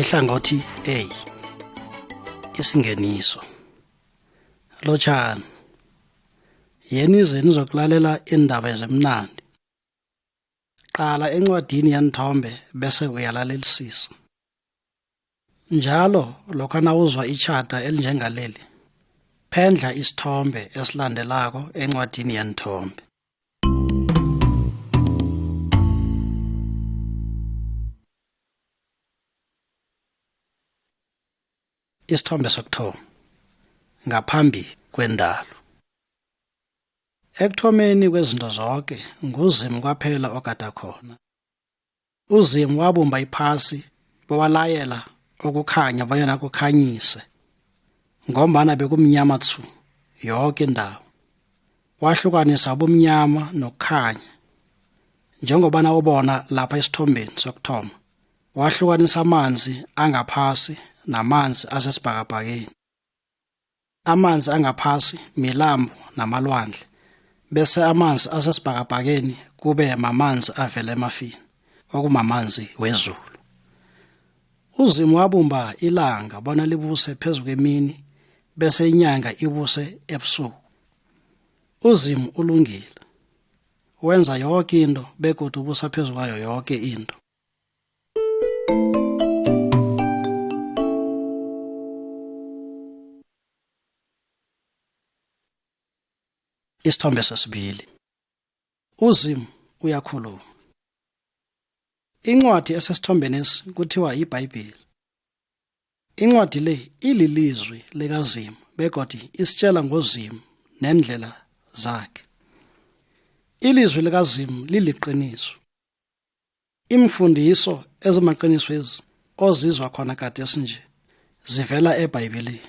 ihlangothi A isingeniso lotshani yeni ize nizokulalela iindaba ezimnandi qala encwadini yanithombe bese uyalalelisisa njalo lokha nawuzwa itjhada elinjengaleli phendla isithombe esilandelako encwadini yanithombe isithombe sokuthoma ngaphambi kwendalo ekuthomeni kwezinto zonke nguzimu kwaphela ogada khona uzimu wabumba iphasi bewalayela ukukhanya bonyana kukhanyise ngombana bekumnyama thu yoke indawo wahlukanisa ubumnyama nokukhanya njengobana ubona lapha esithombeni sokuthoma wahlukanisa amanzi angaphasi namanzi asesibhakabhakeni amanzi angaphasi milambo namalwandle bese amanzi asesibhakabhakeni kube mamanzi avela emafini okumamanzi wezulu uzimu wabumba ilanga bona libuse phezu kwemini bese inyanga ibuse ebusuku uzimu ulungile wenza yoke into begodu ubusa phezu kwayo yoke into Isithombe sesibili. UZimu uyakhuluma. Incwadi esesithombenesi kuthiwa yiBhayibheli. Incwadi le ililizwi likaZimu begodi isitshela ngoZimu nendlela zakhe. Ilizwi likaZimu liliqiniso. Iimfundiso ezimaqiniswezi ozizwa khona gadesi nje zivela eBhayibhelini.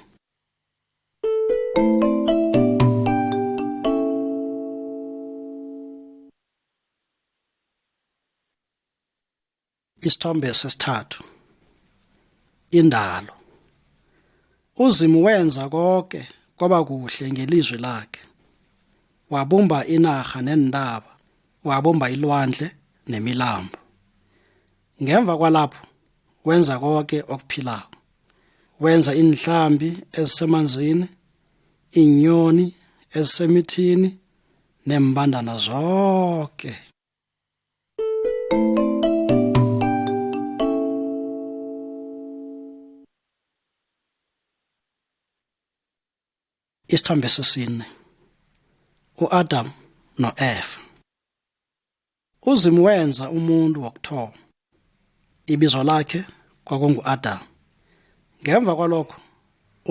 Isithombe sesithathu, indalo. uzimu wenza koke kwaba kuhle ngelizwi lakhe wabumba inarha neentaba wabumba ilwandle nemilambo ngemva kwalapho wenza koke okuphilako wenza iinhlambi ezisemanzini iinyoni ezisemithini nembandana zonke Isithombe sesine uAdam noEva uZimu wenza umuntu wokuthoma ibizo lakhe kwakunguAdam ngemva kwalokho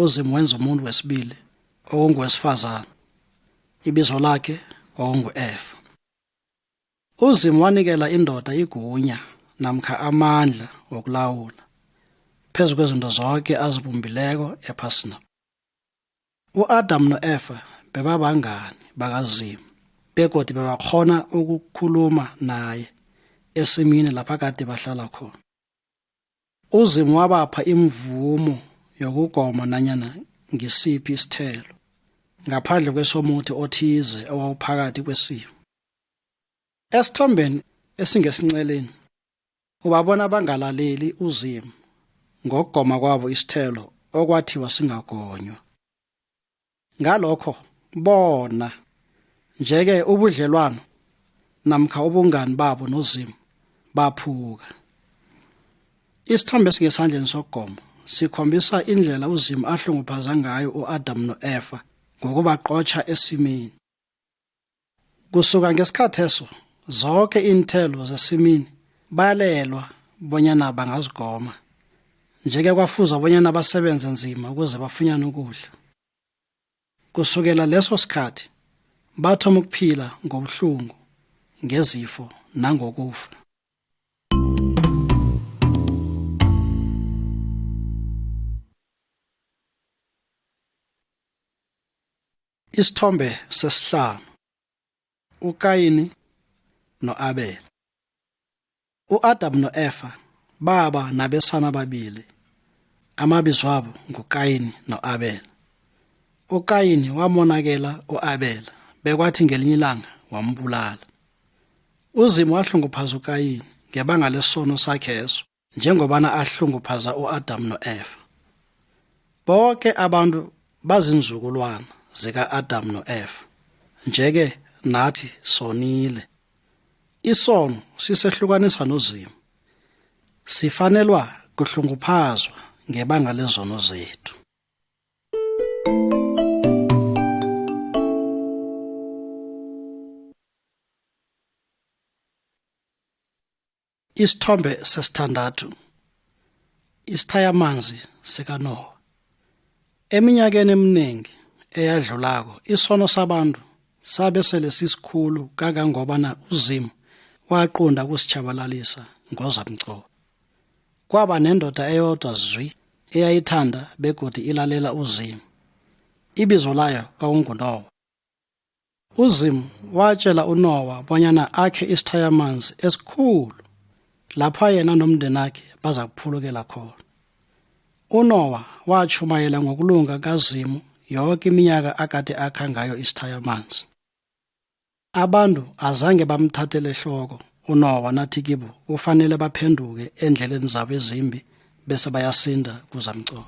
uZimu wenza umuntu wesibili okungowesifazana ibizo lakhe kwakunguEva uzimu wanikela indoda igunya namkha amandla wokulawula phezu kwezinto zonke azibumbileko ephasina u-adamu no-efa bebabangani bakazimu begodi bebakhona ukukhuluma naye esimini lapha kade bahlala khona UZimu wabapha imvumo yokugoma nanyana ngisiphi isithelo ngaphandle kwesomuthi othize owawuphakathi kwesimo. Esithombeni esingesinceleni ubabona bangalaleli uZimu ngokugoma kwabo isithelo okwathiwa singagonywa. ngalokho bona njeke ubudlelwano namkha ubungani babo nozimu baphuka isithombe esingesandleni sokugomo sikhombisa indlela uzimu ahlunguphaza ngayo uadamu noefa ngokubaqotsha esimini Kusuka ngesikhatheso zoke iinthelo zesimini bayalelwa bonyana bangazigoma. Nje-ke kwafuza bonyana basebenze nzima ukuze bafunyane ukudla. Kusukela leso sikhathi bathoma ukuphila ngobuhlungu, ngezifo nangokufa. Isithombe sesihlanu uKayini noAbela. UAdam noEfa baba nabesana ababili. Amabizo wabo nguKayini noAbela. UKayini wamonakela uAbela bekwathi ngelinye ilanga wambulala. UZimu wahlunguphaza uKayini ngebanga lesono sakheso. njengobana ahlunguphaza u-Adamu no-Eva. Boke abantu bazinzukulwana zika-Adamu no-Eva. Nje-ke nathi sonile. Isono sisehlukanisa noZimu. Sifanelwa kuhlunguphazwa ngebanga lezono zethu. Isithombe sesithandathu isithayamanzi sikaNowa. Eminyakeni eminingi eyadlulako isono sabantu sabe sele sisikhulu kangangobana uZimu waqunda kusitshabalalisa ngozamcobo. Kwaba nendoda eyodwa zwi eyayithanda begodi ilalela uZimu. Ibizo layo kwakunguNowa. UZimu watjela uNowa bonyana akhe isithayamanzi esikhulu lapha yena nomndenakhe baza kuphulukela khona. UNowa watjhumayela ngokulunga kaZimu yoke iminyaka akade akha ngayo isithayamanzi. Abantu azange bamthathele ehloko uNowa nathi kibo kufanele baphenduke eendleleni zabo ezimbi bese bayasinda kuzamcolo.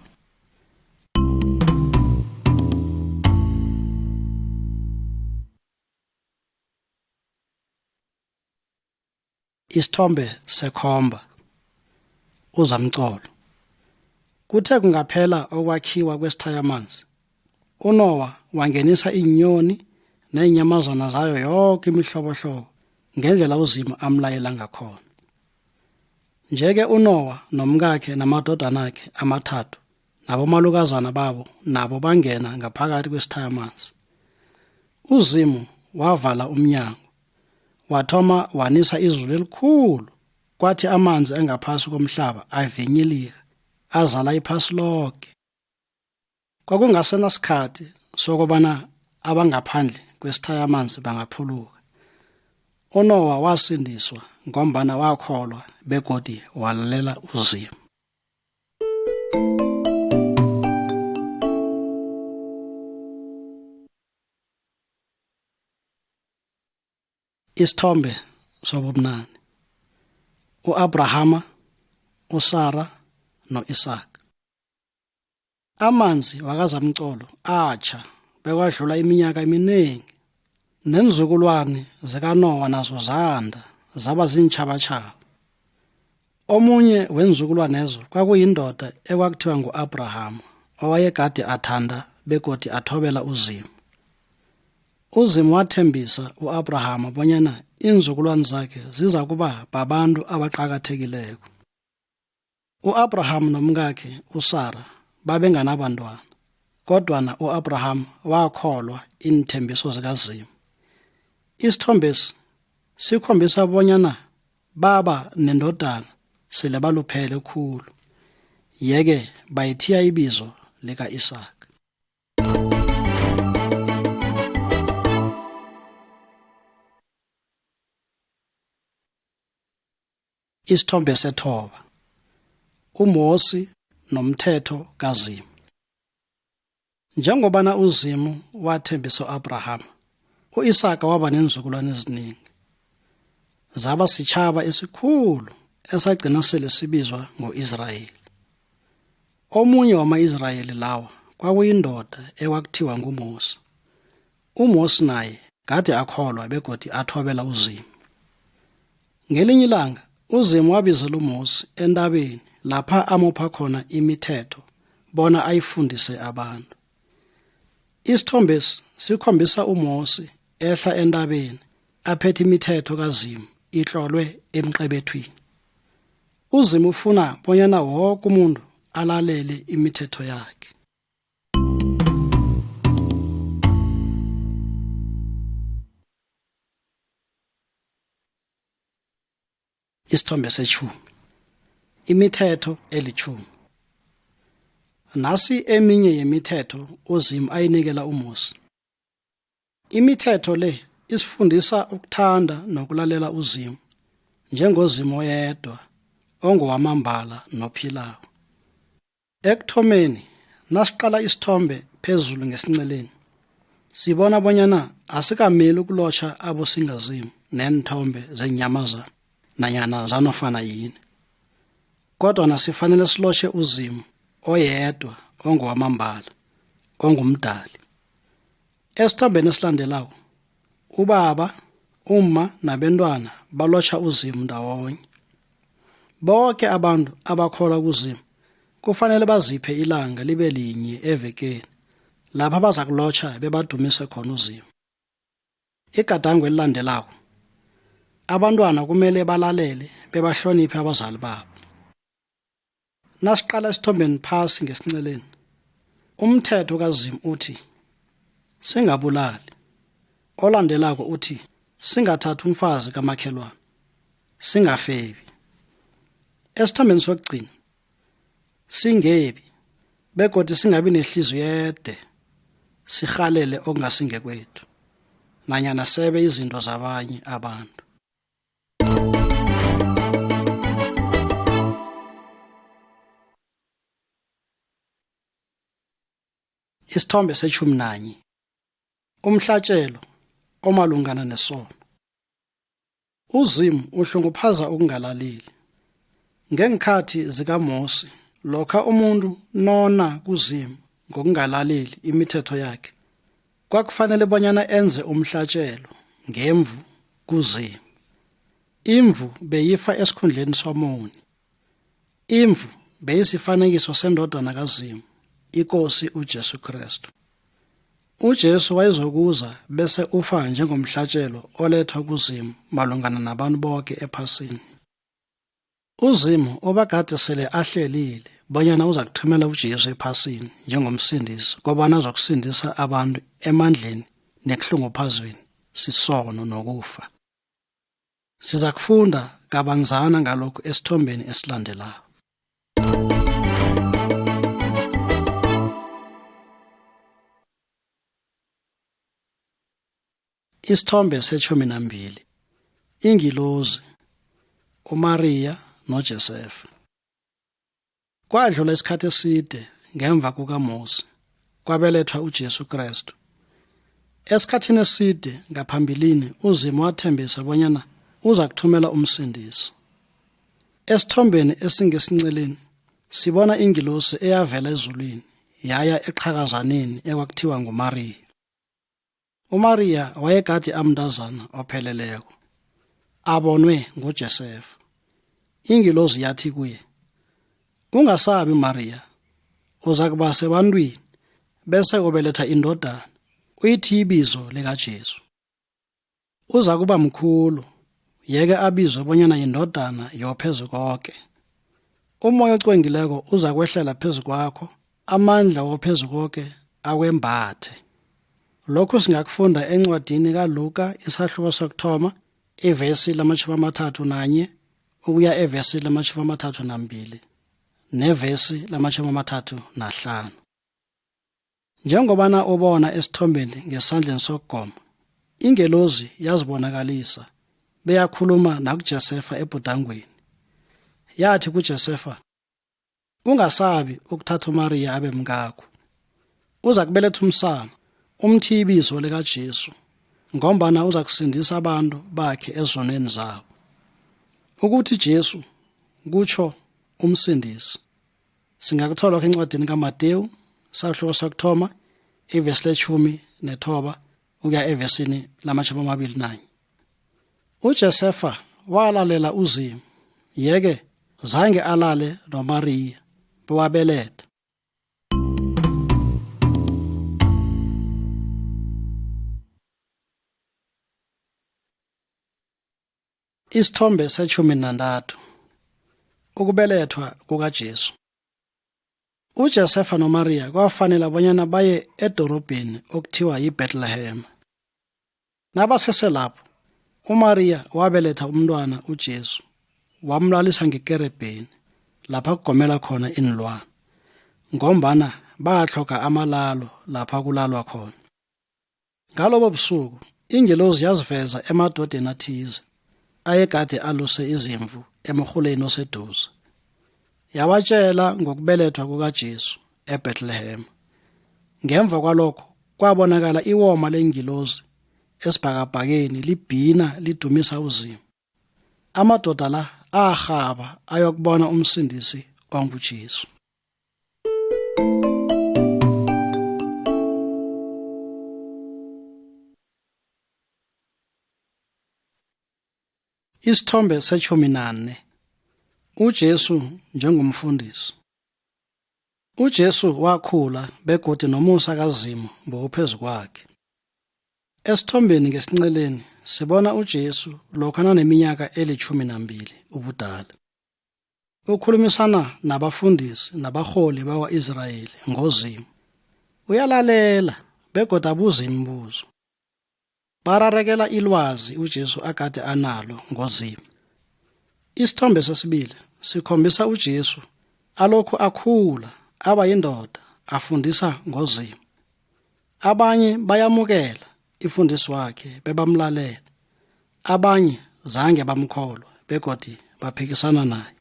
Isithombe sekhomba uZamcolo Kuthe kungaphela okwakhiwa kwesithayamanzi uNowa wangenisa iinyoni neenyamazana zayo yoke imihlobohlobo ngendlela uZimu amlayela ngakhona. Nje-ke uNowa nomkakhe namadodanakhe amathathu nabomalukazana babo nabo bangena ngaphakathi kwesithayamanzi. UZimu wavala umnyango, wathoma wanisa izulu elikhulu, kwathi amanzi angaphasi komhlaba avinyilika, azala iphasi loke. Kwakungasenasikhathi sokobana abangaphandle kwesithayamanzi bangaphuluka. UNowa wasindiswa ngombana wakholwa begodi walalela uZimu. Isithombe sobumnani. UAbrahama, uSara noIsaka. Amanzi wakaZamcolo atjha bekwadlula iminyaka eminingi, neenzukulwani zikaNowa nazo zanda zaba ziintjhabatjhaba. Omunye weenzukulwanezo kwakuyindoda ekwakuthiwa ngu-Abrahamu owayegade athanda begodi athobela uZimu. UZimu wathembisa u-Abrahamu bonyana iinzukulwani zakhe zizakuba babantu abaqakathekileko. U-Abrahamu nomkakhe uSara babenganabantwana, kodwana u-Abrahamu wakholwa iinthembiso zikaZimu. Isithombesi sikhombisa bonyana baba nendodana sele baluphele khulu, yeke bayithiya ibizo lika-Isaka. Isithombe sethoba. UMosi nomthetho kaZimu. Njengobana uZimu wathembisa u-Abrahama, u-Isaka waba neenzukulwane eziningi. Zaba sitjhaba esikhulu esagcina sele sibizwa ngo-Israyeli. Omunye wama-Israyeli lawa kwakuyindoda ekwakuthiwa nguMosi. UMosi naye gade akholwa begodi athobela uZimu. Ngelinye ilanga uZimu wabizela uMosi entabeni lapha amupha khona imithetho bona ayifundise abantu. Isithombesi sikhombisa uMosi ehla entabeni aphethe imithetho kaZimu itlolwe emqebethwini. UZimu ufuna bonyana woke umuntu alalele imithetho yakhe. isithombe seshumi imithetho elithumi nasi eminye yemithetho uzimu ayinikela umusi Imithetho le isifundisa ukuthanda nokulalela uZimu njengoZimu oyedwa ongowamambala nophilako. Ekuthomeni nasiqala isithombe phezulu ngesinceleni sibona bonyana asikameli ukulotjha abosingazimu neenthombe zeenyamazana nanyana zanofana yini kodwa nasifanele silotjhe uZimu oyedwa ongowamambala ongumdali Esithombeni esilandelako, ubaba, umma nabentwana balotjha uZimu ndawonye. Boke abantu abakholwa kuZimu kufanele baziphe ilanga libe linye evekeni lapha baza kulotjha bebadumise khona uZimu. Igadango elilandelako, abantwana kumele balalele bebahloniphe abazali babo. Nasiqala esithombeni phasi ngesinceleni. Umthetho kaZimu uthi singabulali. Olandelako uthi singathathi umfazi kamakhelwana. Singafebi. Esithombeni sokugcina singebi begodi singabi nehliziyo yede sirhalele okungasingekwethu nanyana sebe izinto zabanye abantu. Isithombe seshumi nanye umhlatshelo omalungana nesono uzimu uhlunguphaza ukungalaleli ngeenkhathi zikamosi lokha umuntu nona kuzimu ngokungalaleli imithetho yakhe kwakufanele bonyana enze umhlatjelo ngemvu kuZimu. Imvu beyifa esikhundleni somoni. Imvu beyisifanekiso sendodana kaZimu, iKosi uJesu Kristu. UJesu wayezokuza bese ufa njengomhlatjelo olethwa kuZimu malungana nabantu boke ephasini. UZimu obagade sele ahlelile bonyana uza kuthumela uJesu ephasini njengomsindisi kobana azokusindisa abantu emandleni nekuhlunguphazweni sisono nokufa. Siza kufunda kabanzana ngalokhu esithombeni esilandelako. Isithombe setshumi nambili ingilozi uMariya noJesefa. Kwadlula isikhathi eside ngemva kukaMosi kwabelethwa uJesu Kristu. Esikhathini eside ngaphambilini uZimu wathembisa bonyana uza kuthumela umsindisi. Esithombeni esingesinceleni sibona ingilosi eyavela ezulwini yaya eqhakazaneni ekwakuthiwa nguMariya. UMariya wayegade amntazana opheleleko, abonwe nguJesefa. Ingilozi yathi kuye, Ungasabi Mariya, uza kuba sebantwini bese ubeletha indodana, uyithi ibizo likaJesu. Uza kuba mkhulu, yeke abizwe bonyana yindodana yophezu koke. Umoya ocwengileko uza kwehlela phezu kwakho amandla wophezu koke akwembathe lokhu singakufunda encwadini kaluka isahluko sokuthoma ivesi lamatjhumi amathathu nanye ukuya evesi lamatjhumi amathathu nambili nevesi lamatjhumi amathathu nahlanu njengobana ubona esithombeni ngesandleni sokugoma ingelozi yazibonakalisa beyakhuluma nakuJesefa ebhudangweni yathi kuJesefa Ungasabi ukuthatha uMariya abe mkakho. Uza kubeletha umsana, umthiye ibizo likaJesu, ngombana uza kusindisa abantu bakhe ezonweni zabo. Ukuthi Jesu kutsho umsindisi. Singakuthola lokho encwadini kaMatewu, sahluko sokuthoma, ivesi letshumi nethoba, ukuya evesini lamatjhumi amabili nanye. UJosefa walalela uZimu, yeke zange alale noMariya bewabeletha. Isithombe setjhumi nantathu ukubelethwa kukaJesu. UJosefa noMariya kwafanela bonyana baye edorobheni okuthiwa yiBethlehem. Nabasese lapho, uMariya wabeletha umntwana uJesu, wamlalisa ngekerebheni lapha kugomela khona iinlwana, ngombana batlhoga amalalo lapha kulalwa khona. Ngalobo busuku, ingelozi yaziveza emadodeni athize ayegade aluse izimvu emrhuleni oseduze. Yawatshela ngokubelethwa kukaJesu eBethlehem. Ngemva kwalokho kwabonakala iwoma lengilozi esibhakabhakeni libhina lidumisa uZimu. Amadoda la arhaba ayokubona umsindisi onguJesu. Isithombe setshumi nane uJesu njengomfundisi uJesu wakhula begodi nomusa kaZimu bowuphezu kwakhe. Esithombeni ngesinceleni sibona uJesu lokha naneminyaka elitjhumi nambili ubudala. Ukhulumisana nabafundisi nabarholi bakwa-Israyeli ngoZimu. Uyalalela begodu abuza imibuzo. Bararekela ilwazi uJesu agade analo ngoZimu. Isithombe sesibili sikhombisa uJesu alokhu akhula aba yindoda afundisa ngoZimu. Abanye bayamukela ifundiswakhe bebamlalela. Abanye zange bamkholwa begodi baphikisana naye.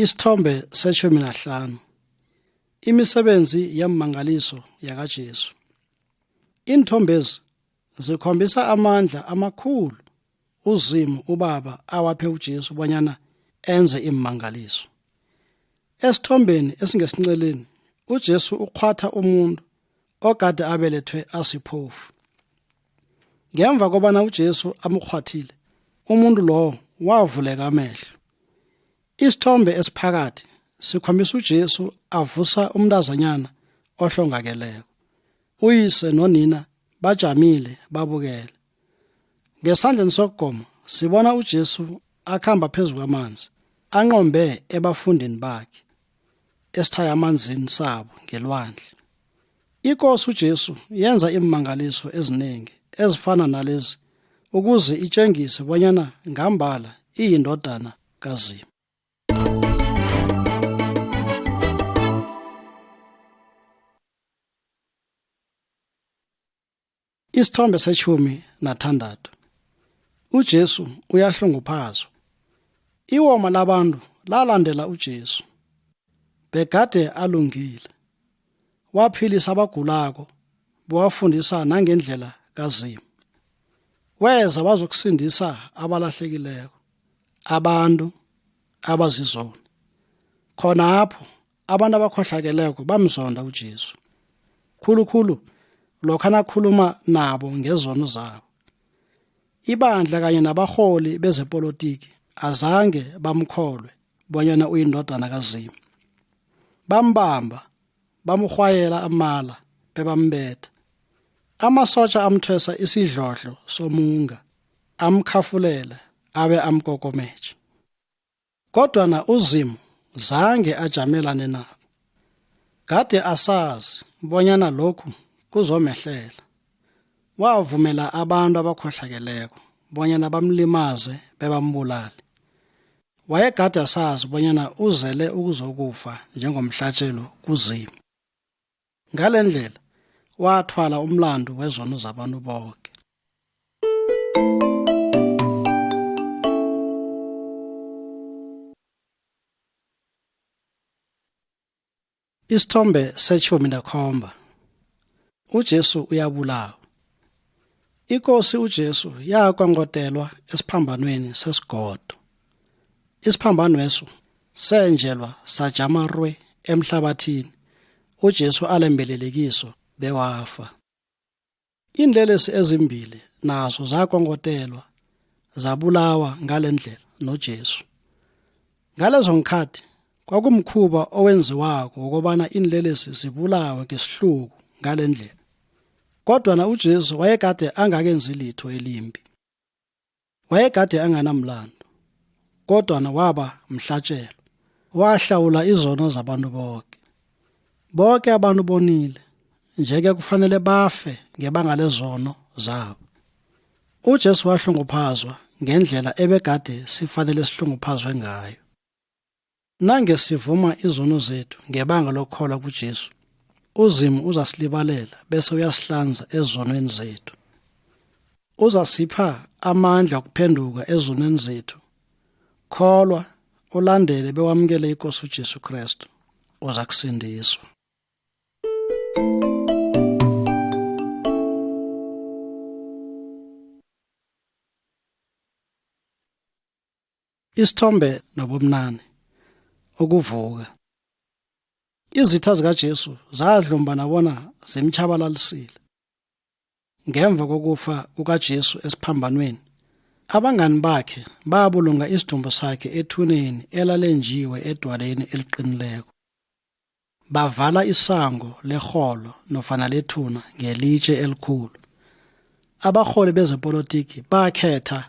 Isithombe setshumi nahlanu imisebenzi yemmangaliso yakaJesu. Iinthombezi zikhombisa amandla amakhulu uZimu uBaba awaphe uJesu bonyana enze iimmangaliso. Esithombeni esingesinceleni uJesu ukghwatha umuntu ogade abelethwe asiphofu. Ngemva kobana uJesu amukghwathile, umuntu lowo wavuleka amehlo. Isithombe esiphakathi sikhombisa uJesu avusa umntazanyana ohlongakeleko. Uyise nonina bajamile babukele. Ngesandleni sokugoma sibona uJesu akhamba phezu kwamanzi, anqombe ebafundini bakhe esithaya amanzini sabo ngelwandle. Ikosi uJesu yenza iimangaliso eziningi ezifana nalezi ukuze itshengise bonyana ngambala iyindodana kaZimu. Isithombe seshumi nathandathu. UJesu uyahlunguphazwa. Iwoma labantu lalandela uJesu. Begade alungile. Waphilisa abagulako, bewafundisa nangendlela kaZimu. Weza wazokusindisa abalahlekileko, abantu abazizoni. Khonapho abantu abakhohlakeleko bamzonda uJesu khulukhulu lokha nakhuluma nabo ngezono zabo ibandla kanye nabarholi bezepolitiki azange bamkholwe bonyana uyindodana kazimu bambamba bamrhwayela amala bebambetha amasotja amthwesa isidlodlo somunga amkhafulela abe amkokomethe Kodwa na uZimu zange ajamelane nabo. Kade asazi bonyana lokhu kuzomehlela. Wavumela abantu abakhohlakeleko bonyana bamlimaze bebambulale. Wayegade asazi bonyana uzele ukuzokufa njengomhlatjelo kuZimu. ngale ndlela wathwala umlandu wezono zabantu boke isithombe seshumi nekhomba ujesu uyabulawa ikosi ujesu yakwangodelwa esiphambanweni sesigodo isiphambanweso senjelwa sajama rwe emhlabathini uJesu alembelelekiso bewafa. Iinlelesi ezimbili nazo zakongotelwa zabulawa ngalendlela noJesu. Ngalezo ngikhathi kwakumkhuba owenziwako wokobana iinlelesi zibulawe ngesihluku ngalendlela. Kodwa na uJesu wayekade angakenzi litho elimbi. Wayegade anganamlando, kodwana waba mhlatjelo. Wahlawula izono zabantu boke. Boke abantu bonile, nje-ke kufanele bafe ngebanga lezono zabo. UJesu wahlunguphazwa ngendlela ebegade sifanele sihlunguphazwe ngayo. Nange sivuma izono zethu ngebanga lokukholwa kuJesu, uZimu uzasilibalela bese uyasihlanza ezonweni zethu. Uzasipha amandla okuphenduka ezonweni zethu. Kholwa, ulandele bewamukele iKosi uJesu Krestu, uza kusindiswa. Isithombe nobumnane ukuvuka izitha zikaJesu zadlumbana bona zimtshabalalisile ngemva kokufa kukaJesu esiphambanweni abangani bakhe babulunga isidumbu sakhe ethuneni elalenjiwe edwaleni eliqinileko bavala isango lerholo nofana lethuna ngelitshe elikhulu abarholi bezepolitiki bakhetha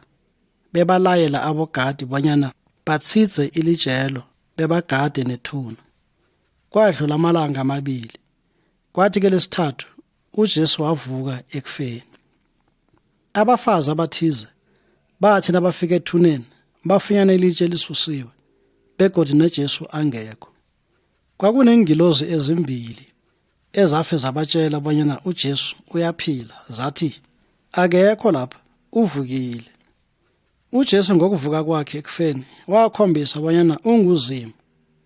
bebalayela abogadi bonyana batshize ilijelo bebagade nethuna kwadlula amalanga amabili kwathi ke lesithathu uJesu wavuka ekufeni abafazi abathize bathi nabafika ethuneni bafunyana ilitshe elisusiwe begodi noJesu angekho Kwakuneengilozi ezimbili ezafe zabatshela bonyana uJesu uyaphila zathi akekho lapha uvukile. UJesu ngokuvuka kwakhe ekufeni wakhombisa bonyana unguZimu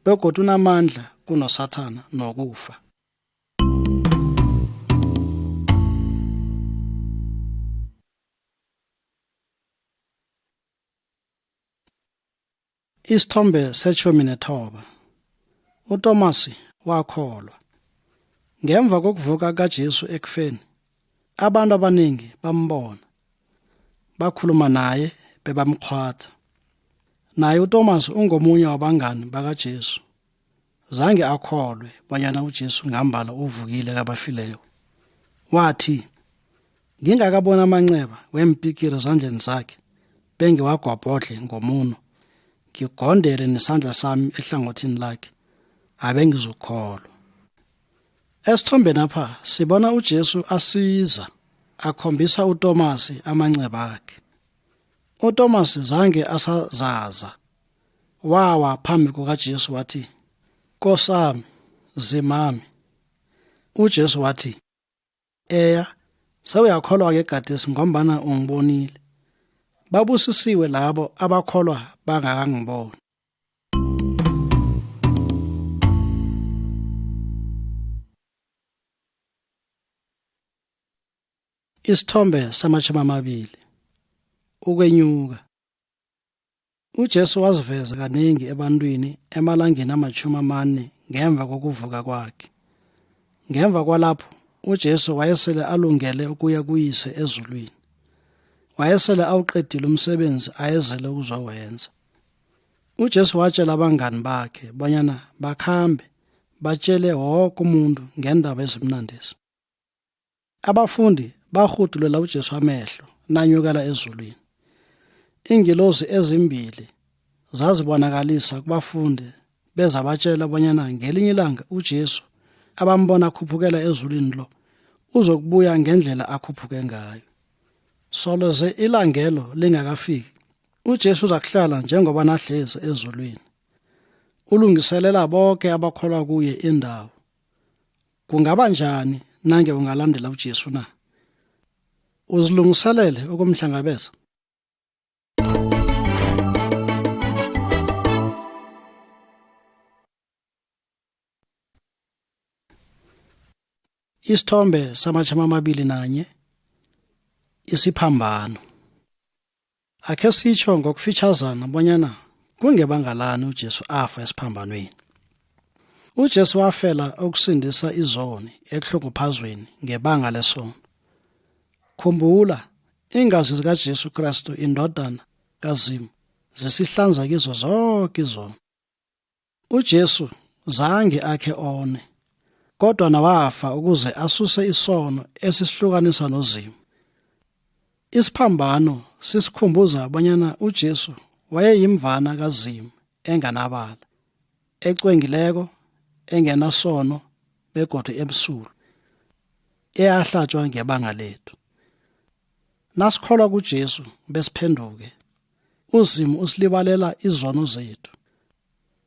begodu unamandla kunoSathana nokufa. Isithombe setjhumi nethoba uTomasi wakholwa. Ngemva kokuvuka kaJesu ekufeni, abantu abaningi bambona, bakhuluma naye bebamkghwatha. Naye uTomasi ungomunye wabangani bakaJesu. Zange akholwe bonyana uJesu ngambala uvukile kabafileyo. Wathi, Ngingakabona amanceba weempikiri zandleni zakhe, bengiwagwabhodle ngomuno, ngigondele nesandla sami ehlangothini lakhe, abengizukholwa. Esithombeni apha sibona uJesu asiza akhombisa uTomasi amanceba akhe. UTomasi zange asazaza wawa phambi kukaJesu wathi Nkosami zimami uJesu wathi eya sewuyakholwa ke gadesi ngombana ungibonile babusisiwe labo abakholwa bangakangiboni Isithombe samashumi amabili ukwenyuka UJesu waziveza kanengi ebantwini emalangeni amatjhumi amane ngemva kokuvuka kwakhe. Ngemva kwalapho, uJesu wayesele alungele ukuya kuyise ezulwini. Wayesele awuqedile umsebenzi ayezele ukuzowenza. UJesu watshela abangani bakhe bonyana bakhambe batshele woke umuntu ngendaba ezimnandezi. Abafundi barhudulela uJesu amehlo nanyukela ezulwini. Iingilozi ezimbili zazibonakalisa kubafundi beza batshela bonyana ngelinye ilanga uJesu abambona akhuphukela ezulwini lo uzokubuya ngendlela akhuphuke ngayo. Solo ze ilangelo lingakafiki uJesu uzakuhlala njengoba nahlezi ezulwini. Ulungiselela bonke abakholwa kuye indawo. Kungaba njani nange ungalandela uJesu na? Uzilungiselele ukumhlangabeza? Isithombe samachama amabili nanye isiphambano Akhe sitjho ngokufitjhazana bonyana kungebanga lani uJesu afa esiphambanweni. UJesu wafela ukusindisa izoni ekuhlukuphazweni ngebanga lesono. Khumbula, iingazi zikaJesu Kristu indodana kaZimu zisihlanza kizo zoke izono. UJesu zange akhe one kodwa nawafa ukuze asuse isono esisihlukanisa noZimu. Isiphambano sisikhumbuza abanyana uJesu wayeyimvana kaZimu enganabala, ecwengileko, engenasono begodu emsulwa, eyahlatjwa ngebanga lethu. Nasikholwa kuJesu besiphenduke, uzimu usilibalela izono zethu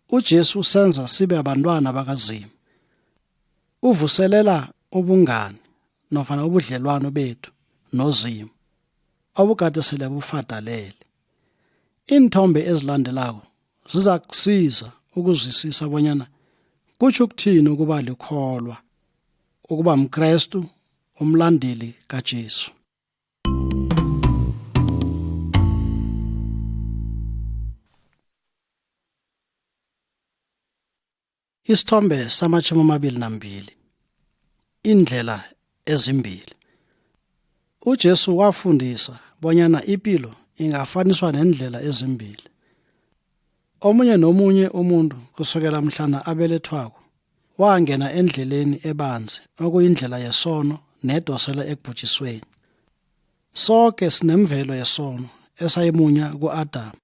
ujesu usenza sibe abantwana bakazimu uvuselela ubungani nofana ubudlelwano bethu nozimu obukade sele bufadalele iinthombe ezilandelako ziza kusiza ukuzwisisa bonyana kutsho ukuthini ukuba likholwa ukuba mkrestu umlandeli kajesu Isithombe samatjhumi amabili nambili Iindlela ezimbili UJesu wafundisa bonyana ipilo ingafaniswa neendlela ezimbili. Omunye nomunye umuntu kusukela mhlana abelethwako wangena endleleni ebanzi okuyindlela yesono nedosela ekubhujisweni soke sinemvelo yesono esayimunya ku-adamu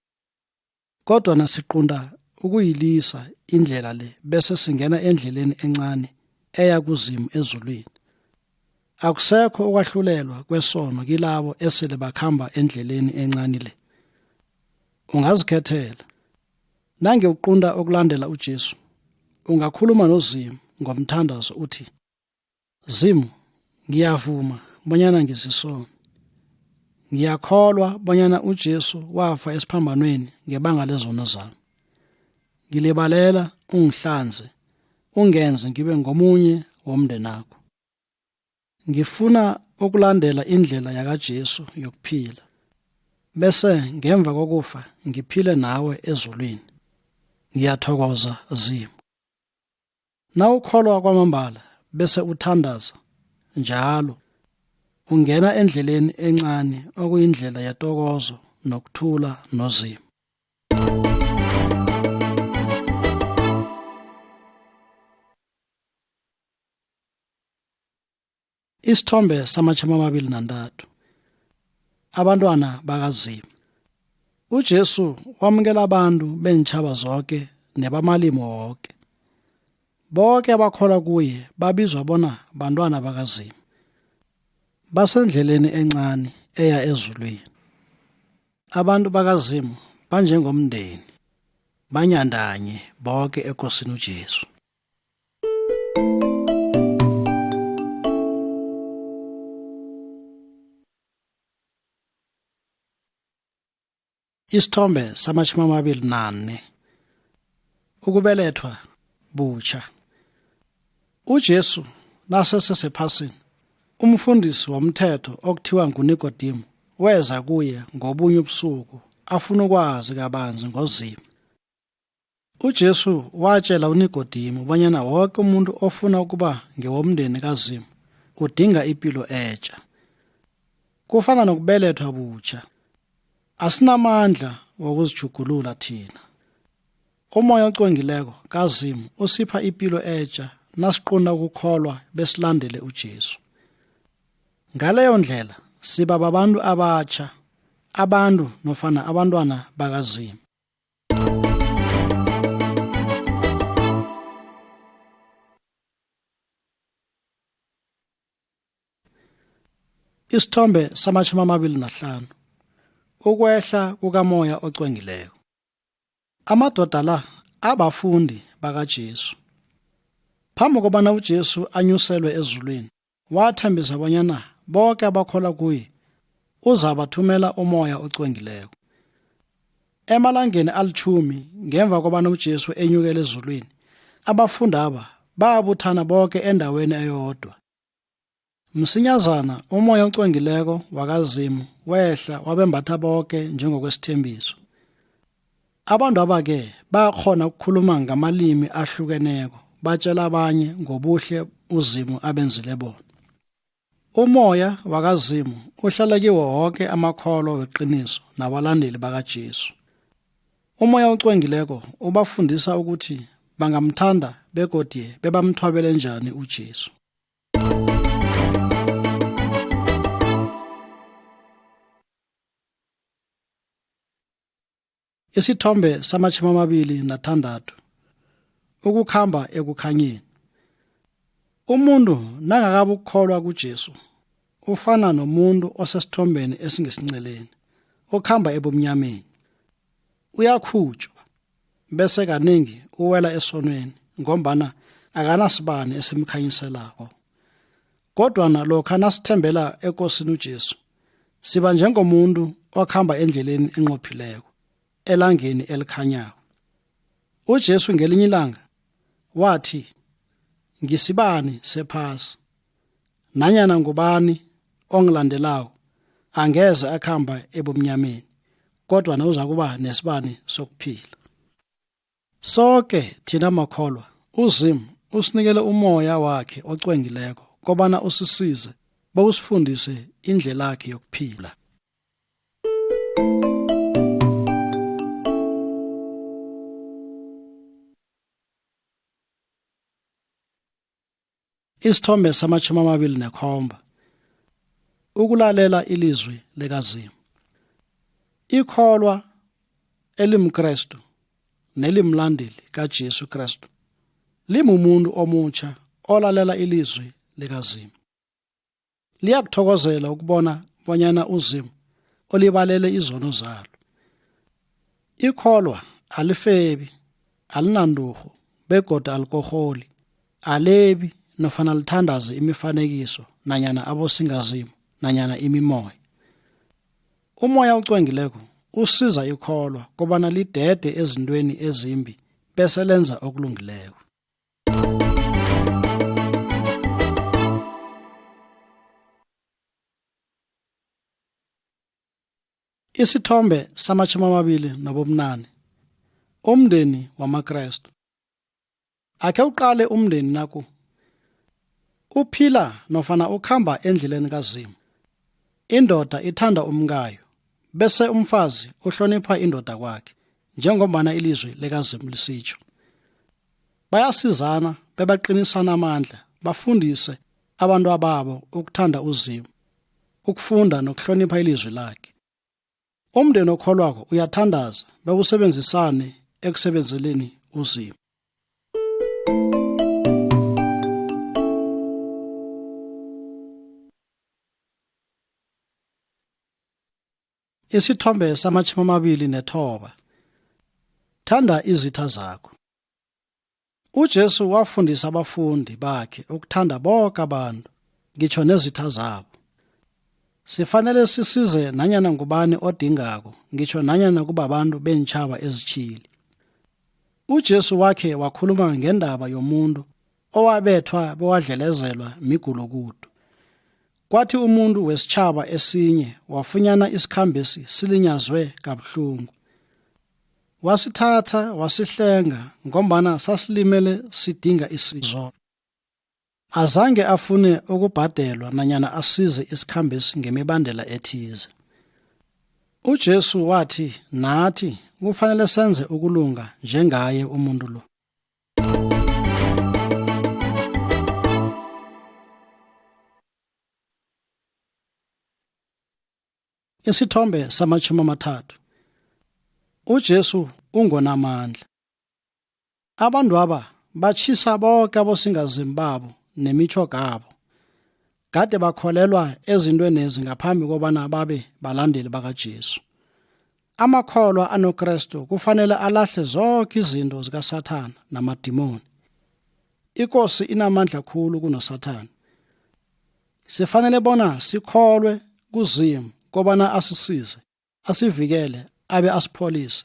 kodwa nasiqunda ukuyilisa indlela le bese singena endleleni encane eya kuzimu ezulwini akusekho ukwahlulelwa kwesono kilabo esele bakhamba endleleni encane le ungazikhethela Nange uqunta okulandela uJesu, ungakhuluma noZimu ngomthandazo uthi, Zimu, ngiyavuma bonyana ngizisona. Ngiyakholwa bonyana uJesu wafa esiphambanweni ngebanga lezono zami. Ngilibalela ungihlanze, ungenze ngibe ngomunye womndenakho. Ngifuna ukulandela indlela yakaJesu yokuphila, bese ngemva kokufa ngiphile nawe ezulwini. Ngiyathokoza Zimu. Nawukholwa kwamambala bese uthandaza njalo ungena endleleni encane okuyindlela yetokozo nokuthula noZimu. Isithombe samatjhama amabili nantathu. Abantwana bakaZimu. UJesu wamukela abantu beentjhaba zoke nebamalimi woke. Boke abakholwa kuye babizwa bona bantwana bakaZimu. Basendleleni encani eya ezulwini. Abantu bakaZimu banjengomndeni, banyandanye boke ekosini uJesu. Isithombe samashumi amabili nane. Ukubelethwa butsha. UJesu nasesesephasini, umfundisi womthetho okuthiwa nguNikodemu weza kuye ngobunye ubusuku afuna ukwazi kabanzi ngoZimu. UJesu watshela uNikodimi ubanyana woke umuntu ofuna ukuba ngewomndeni kaZimu udinga ipilo etja. Kufana nokubelethwa butjha. Asinamandla wokuzijugulula thina. Umoya ocwengileko kaZimu usipha ipilo etja nasiqunda ukukholwa besilandele uJesu. Ngaleyo ndlela siba babantu abatjha, abantu nofana abantwana bakaZimu. Isithombe samashumi amabili nahlanu ukwehla kukamoya ocwengileko. Amadoda la abafundi bakaJesu. Phambi kobana uJesu anyuselwe ezulwini, Wathembisa bonyana boke abakholwa kuye uzabathumela umoya ocwengileko. Emalangeni alitjhumi ngemva kobana uJesu enyukele ezulwini, abafundaba babuthana boke endaweni eyodwa. Msinyazana umoya ocwengileko wakaZimu wehla wabembatha boke njengokwesithembiso. Abantu abake bayakhona ukukhuluma ngamalimi ahlukeneko, batshela abanye ngobuhle uZimu abenzile bona. Umoya wakaZimu uhlala kiwo woke amakholwa weqiniso nabalandeli bakaJesu. Umoya ocwengileko ubafundisa ukuthi bangamthanda begodye bebamthwabele njani uJesu. Isithombe samatjhumi amabili nathandathu ukukhamba ekukhanyeni. Umuntu nangakabukholwa kuJesu ufana nomuntu osesithombeni esingesinceleni okhamba ebumnyameni. Uyakhutshwa bese kaningi uwela esonweni ngombana akanasibani esimkhanyiselako. Kodwa nalokha nasithembela ekosini uJesu, siba njengomuntu okhamba endleleni enqophileko, elangeni elikhanyako. UJesu ngelinye ilanga wathi, Ngisibani sephasi, nanyana ngubani ongilandelako angeze akhamba ebumnyameni, kodwa na uzakuba nesibani sokuphila. Soke thina makholwa uZimu usinikele umoya wakhe ocwengileko kobana usisize bowusifundise indlelakhe yokuphila. Isithombe samatjhumi amabili nekhomba ukulalela ilizwi likaZimu. Ikholwa elimKrestu nelimlandeli kaJesu Krestu limumuntu omutjha olalela ilizwi likaZimu. liyakuthokozela ukubona bonyana uzimu olibalele izono zalo ikholwa alifebi alinandurhu begoda alikoholi alebi nofana lithandaze imifanekiso nanyana abosingazimu nanyana imimoya umoya ocwengileko usiza ikholwa kobana lidede ezintweni ezimbi bese lenza okulungileko Isithombe samatjhumi amabili nobumnane umndeni wamaKrestu. Akhe uqale umndeni naku uphila nofana ukhamba endleleni kaZimu. Indoda ithanda umkayo bese umfazi uhlonipha indoda kwakhe njengombana ilizwi likaZimu lisitsho. bayasizana bebaqinisana amandla bafundise abantu ababo ukuthanda uzimu ukufunda nokuhlonipha ilizwi lakhe umndeni okholwako uyathandaza bewusebenzisane ekusebenzeleni uzimu Isithombe samatjhumi amabili nethoba. Thanda izitha zakho. UJesu wafundisa abafundi bakhe ukuthanda boke abantu, ngitjho nezitha zabo. Sifanele sisize nanyana ngubani odingako, ngitjho nanyana kubabantu beentjhaba ezitjhili. UJesu wakhe wakhuluma ngendaba yomuntu owabethwa bewadlelezelwa migulukudu. Kwathi umuntu wesitjhaba esinye wafunyana isikhambesi silinyazwe kabuhlungu. Wasithatha wasihlenga ngombana sasilimele sidinga isizo. Azange afune ukubhadelwa nanyana asize isikhambesi ngemibandela ethize. UJesu wathi nathi kufanele senze ukulunga njengaye umuntu lo. Isithombe samashumi amathathu. UJesu ungonamandla. Abantwaba batjhisa boke abosingazini babo nemitjhogabo. Kade bakholelwa ezintwenezi ngaphambi kobana babe balandeli bakaJesu. Amakholwa anoKrestu kufanele alahle zonke izinto zikaSathana namadimoni. Ikosi inamandla khulu kunoSathana. Sifanele bona sikholwe kuZimu kobana asisize asivikele abe asipholise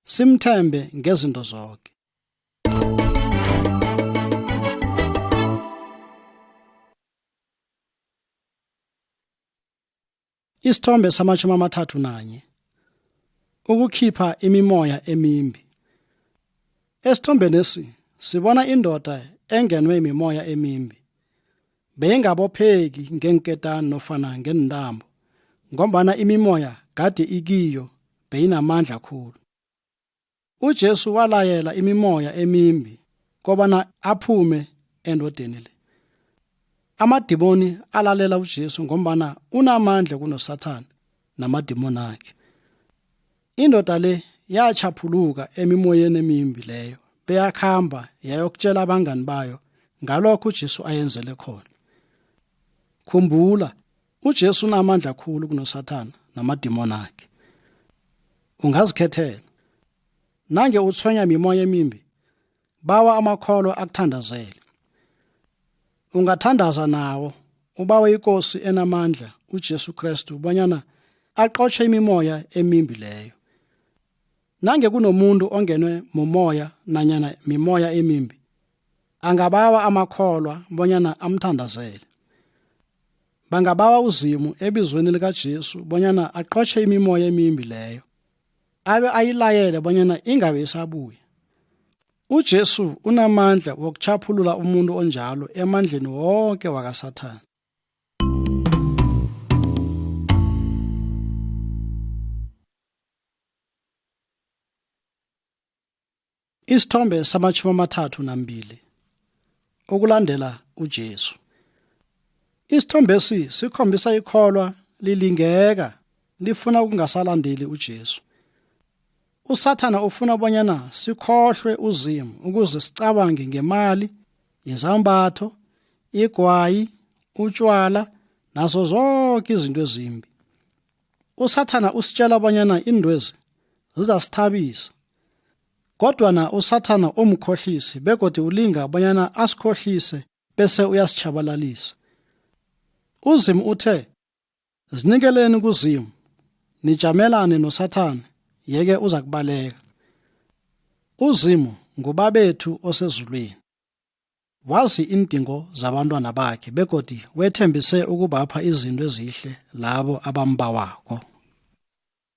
simthembe ngezinto zonke Isithombe samashumi amathathu nanye ukukhipha imimoya emimbi Esithombeni esi sibona indoda engenwe imimoya emimbi Beyingabopheki ngeenketani nofana ngeentambo ngombana imimoya gade ikiyo beyinamandla khulu. UJesu walayela imimoya emimbi kobana aphume endodeni le. Amadimoni alalela uJesu ngombana unamandla kunoSathana namadimoni akhe. Indoda le yatjhaphuluka emimoyeni emimbi leyo beyakhamba yayokutshela abangani bayo ngalokho uJesu ayenzele khona. Khumbula, uJesu unamandla khulu kunoSathana namadimoni akhe. Ungazikhethela. Nange utshwenya mimoya emimbi, Bawa amakholo akuthandazele. Ungathandaza nawo, ubawe iKosi enamandla uJesu Kristu bonyana aqotjhe imimoya emimbi leyo. Nange kunomuntu ongenwe mumoya nanyana mimoya emimbi, angabawa amakholwa bonyana amthandazele. Bangabawa uZimu ebizweni likaJesu bonyana aqotjhe imimoya emimbi leyo. abe ayilayele bonyana ingabe isabuya uJesu unamandla wokuchaphulula umuntu onjalo emandleni wonke wakaSathana Isithombe samatjhumi amathathu nambili okulandela uJesu. Isithombesi sikhombisa ikholwa lilingeka lifuna ukungasalandeli uJesu. USathana ufuna bonyana sikhohlwe uZimu ukuze sicabange ngemali, izambatho, igwayi, utshwala nazo zonke izinto ezimbi. usathana usitshela bonyana indwezi zizasithabisa kodwa na usathana umkhohlisi begodi ulinga bonyana asikhohlise bese uyasitshabalalisa uzimu uthe zinikeleni kuzimu nijamelane nosathane yeke uza kubaleka uzimu ngubabethu osezulwini Wazi iindingo zabantwana bakhe begodi wethembise ukubapha izinto ezihle labo abambawako.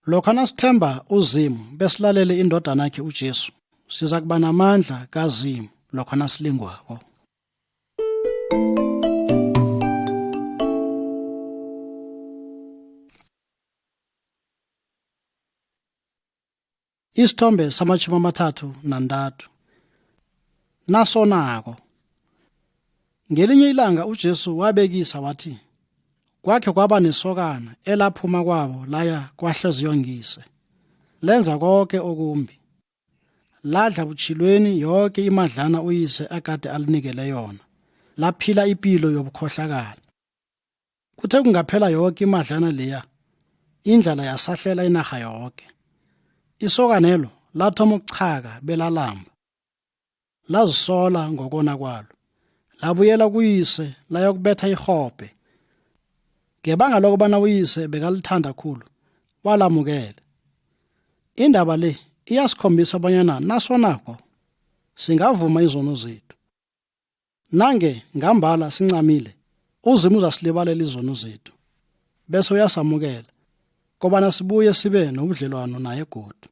Lokha nasithemba uZimu besilalele indodana yakhe uJesu, siza kuba namandla kaZimu lokha nasilingwako. isithombe samatjhumi amathathu nantathu nasonako ngelinye ilanga ujesu wabekisa wathi kwakhe kwaba nesokana elaphuma kwabo laya kwahleziyongise lenza konke okumbi ladla butshilweni yonke imadlana uyise akade alinikele yona laphila impilo yobukhohlakala Kuthe kungaphela yoke imadlana leya, indlala yasahlela inarha yoke. Isokanelo lathoma ukuchaka belalamba. Lazisola ngokona kwalo. Labuyela kuyise layokubetha irhobhe. Ngebanga lokubana uyise bekalithanda khulu, walamukela. Indaba le iyasikhombisa bonyana nasonako singavuma izono zethu. Nange ngambala sincamile, uZimu uzasilibalela izono zethu bese uyasamukela kobana sibuye sibe nobudlelwano naye godu.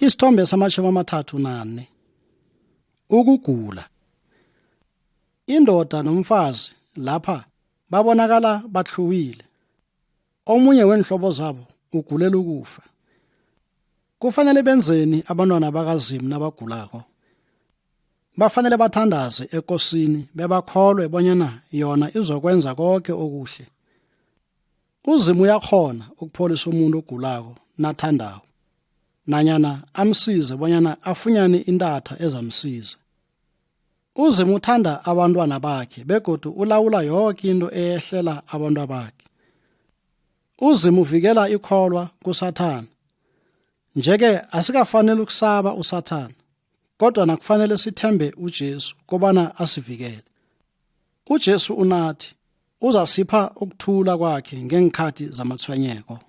Isithombe samashumi amathathu nane. Ukugula. Indoda nomfazi lapha babonakala bathluwile. Omunye weenhlobo zabo ugulela ukufa. Kufanele benzeni abantwana bakaZimu nabagulako? Bafanele bathandaze ekosini bebakholwe bonyana yona izokwenza konke okuhle. uzimu uyakhona ukupholisa umuntu ogulako nathandako nanyana amsize bonyana afunyane intatha ezamsiza uzimu uthanda abantwana bakhe begodu ulawula yoke into eyehlela abantwa bakhe uzimu uvikela ikholwa kusathana njeke asikafanele ukusaba usathana kodwa nakufanele sithembe uJesu kobana asivikele. UJesu unathi, Uzasipha ukuthula kwakhe ngeenkhathi zamatshwenyeko.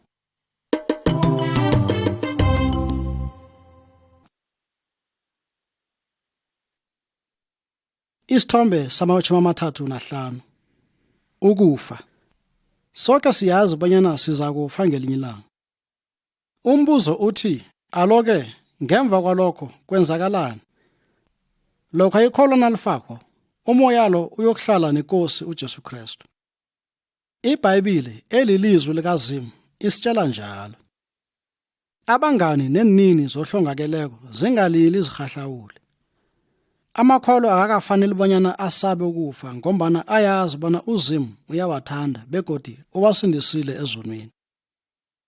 Isithombe samawatjhumi amathathu nahlanu. Ukufa. Soke siyazi bonyana sizakufa ngelinye ilanga. Umbuzo uthi, alo-ke ngemva kwalokho kwenzakalani? Lokha ikholo nalifakwa, umoya lo uyokuhlala neKosi uJesu Krestu. IBhayibhili elilizwi likaZimu isitshela njalo. Abangani neenini zohlongakeleko zingalili zirhahlawule. Amakholo akakafaneli bonyana asabe ukufa ngombana ayazi bona uZimu uyawathanda begodi uwasindisile ezonweni.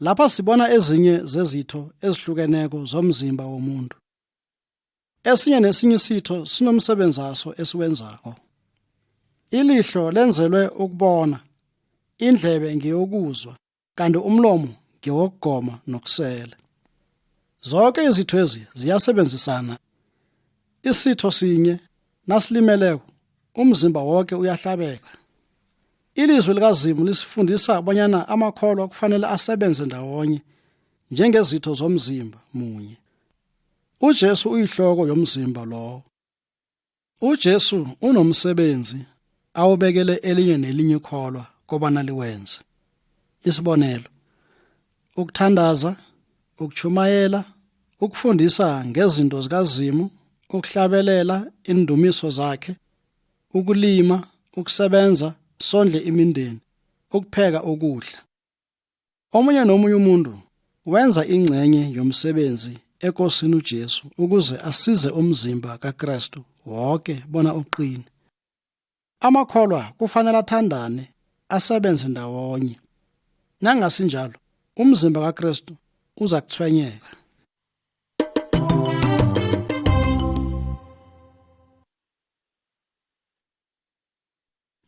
Lapha sibona ezinye zezitho ezihlukeneko zomzimba womuntu. Esinye nesinye isitho sinomsebenzi waso esiwenzako. Ilihlo lenzelwe ukubona, indlebe ngeyokuzwa, kanti umlomo ngewokugoma nokusela. Zonke izithwezi ziyasebenzisana. Isitho sinye nasilimeleko umzimba wonke uyahlabeka. ilizwi likazimu lisifundisa bonyana amakholwa kufanele asebenze ndawonye njengezitho zomzimba munye ujesu uyihloko yomzimba lowo ujesu unomsebenzi awubekele elinye nelinye kholwa kobana liwenze isibonelo ukuthandaza ukuchumayela ukufundisa ngezinto zikazimu ukuhlabelela indumiso zakhe ukulima ukusebenza sondle imindeni ukupheka ukudla omunye nomunye umuntu wenza ingcenye yomsebenzi ekosini uJesu ukuze asize umzimba kaKristu wonke bona uqine amakholwa kufanele athandane asebenze ndawonye nangasinjalo umzimba kaKristu uza kuthwenyeka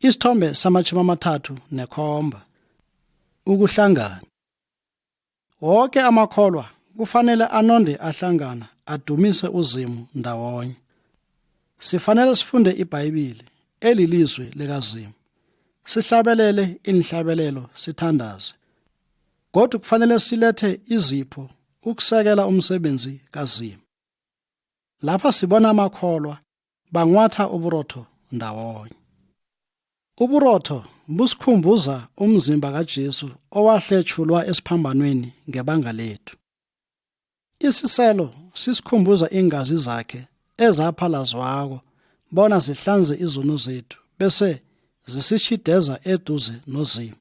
Isithombe samatjhumi amathathu nekhomba. Ukuhlangana. Woke amakholwa kufanele anonde ahlangana adumise uZimu ndawonye. Sifanele sifunde iBhayibhili elilizwi likaZimu. Sihlabelele inhlabelelo sithandaze. Godu kufanele silethe izipho ukusekela umsebenzi kaZimu. Lapha sibona amakholwa bangwatha uburotho ndawonye. Uburotho busikhumbuza umzimba kaJesu owahletshulwa esiphambanweni ngebanga lethu. Isiselo sisikhumbuza iingazi zakhe ezaphalazwako bona zihlanze izono zethu bese zisitjhideza eduze noZimu.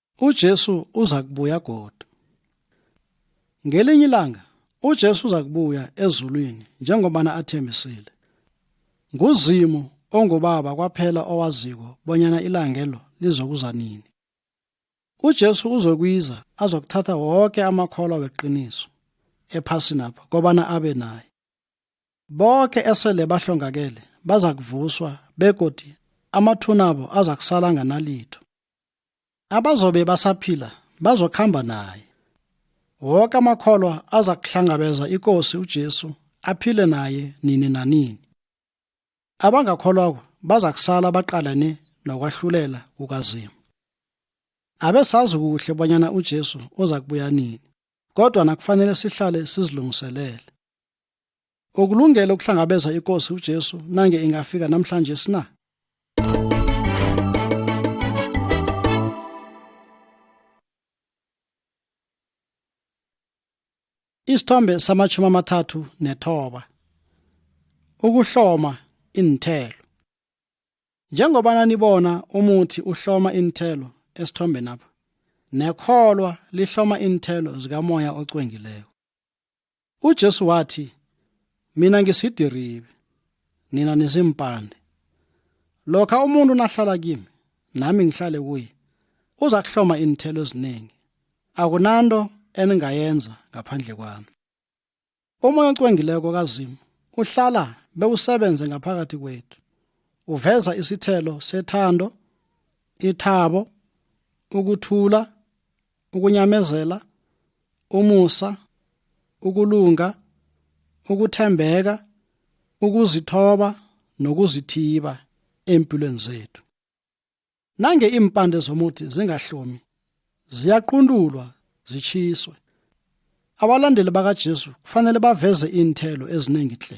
UJesu uza kubuya godu. Ngelinye ilanga uJesu uza kubuya ezulwini njengobana athembisile. NguZimu ongubaba kwaphela owaziko bonyana ilangelo lizokuza nini. UJesu uzokwiza azokuthatha woke amakholwa weqiniso ephasinapha kobana abe naye. Boke esele bahlongakele bazakuvuswa begodi amathunabo azakusala nganalitho. Abazobe basaphila bazokhamba naye. Woke amakholwa azakuhlangabeza iKosi uJesu aphile naye nini nanini. Abangakholwako bazakusala baqalane nokwahlulela kukaZimu. Abesazi kuhle bonyana uJesu uzakubuya nini, kodwa nakufanele sihlale sizilungiselele. Ukulungele ukuhlangabeza iKosi uJesu nange ingafika namhlanje sina? Isithombe samashumi amathathu nethoba. Ukuhloma iinthelo. Njengoba nanibona umuthi uhloma iinthelo esithombeni apha. Nekholwa lihloma iinthelo zikamoya ocwengileko. UJesu wathi, Mina ngisidiribe, nina nizimpande. Lokha umuntu nahlala kimi, nami ngihlale kuye, uza kuhloma iinthelo eziningi. Akunanto eningayenza ngaphandle kwami. Umoya ocwengileko kaZimu uhlala bewusebenze ngaphakathi kwethu. Uveza isithelo sethando, ithabo, ukuthula, ukunyamezela umusa ukulunga ukuthembeka ukuzithoba nokuzithiba empilweni zethu nange impande zomuthi zingahlomi ziyaquntulwa zichiswe abalandeli bakaJesu kufanele baveze iinthelo eziningi tle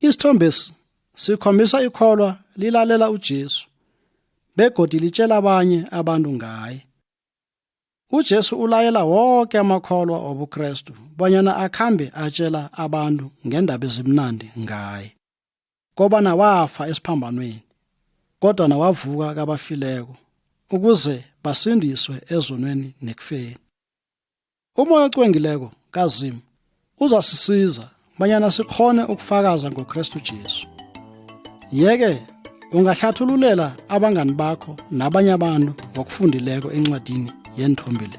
Isithombesi sikhombisa ikholwa lilalela uJesu begodi litshela abanye abantu ngaye. UJesu ulayela wonke amakholwa obuKrestu bonyana akhambe atshela abantu ngendaba ezimnandi ngaye. Kobana wafa esiphambanweni kodwa nawavuka kabafileko ukuze basindiswe ezonweni nekufeni. Umoya ocwengileko kaZimu uzasisiza banyana sikhone ukufakaza ngoKristu Jesu. Yeke ungahlathululela abangani bakho nabanye abantu ngokufundileko encwadini yeenthombe le.